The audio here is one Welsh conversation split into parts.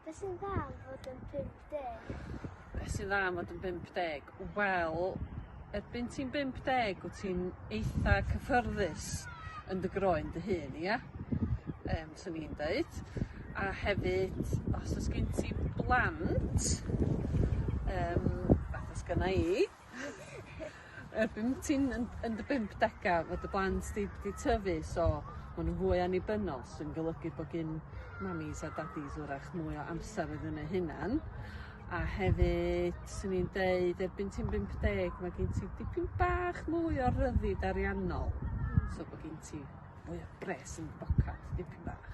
Be' sy'n dda am fod yn pump deg? Be' sy'n dda am fod yn bump deg? Wel erbyn ti'n bump deg wt ti'n eitha cyffyrddus yn dy groen dy hun ia? Yym swn i'n deud. A hefyd os o's gen ti blant yym fath a sgynna i Erbyn ti'n yn yn dy bumdega ma' dy blant di 'di tyfu so ma' n'w fwy annibynnol sy'n golygu bo' gin mamis a dadis 'w'rach mwy o amser iddyn eu hunan a hefyd swn i'n deud erbyn ti'n bump deg ma' gin ti dipyn bach mwy o ryddid ariannol so bo' gin ti mwy o bres yn dy bocad dipyn bach.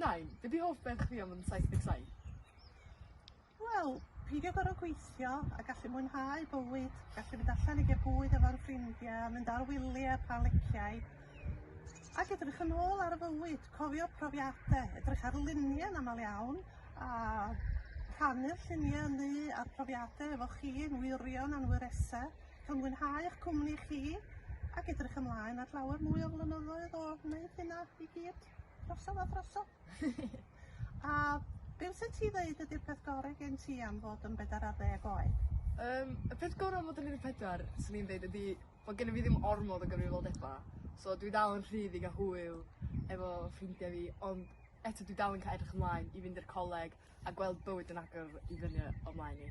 Nain, be' 'di hoff beth chdi am yn saith deg saith? Wel, peidio gor'o' gweithio a gallu mwynhau bywyd, gallu mynd allan i ga'l bwyd efo'n ffrindia, mynd ar wylie pan liciai, ac edrych yn ôl ar y fywyd, cofio profiade, edrych ar lunie yn amal iawn, a rhannu'r llunie 'ny a'r profiade efo chi yn wirion a'n wyrese. Cawn fwynhau eich cwmni chi ac edrych ymlaen at lawer mwy o flynyddoedd o wneud hynna i gyd drosodd a throsodd. a be wyt ti ddeud ydy'r peth gorau gen ti am fod yn bedair ar ddeg oed? Yym y peth gorau am fod yn un deg pedwar 'swn i'n deud ydi bod gennyf fi ddim ormod o gyfrifoldeba so dwi dal yn rhydd i ga'l hwyl efo ffrindia fi ond eto dwi dal yn ca'l edrych ymlaen i fynd i'r coleg a gweld bywyd yn agor i fyny o mlaen i.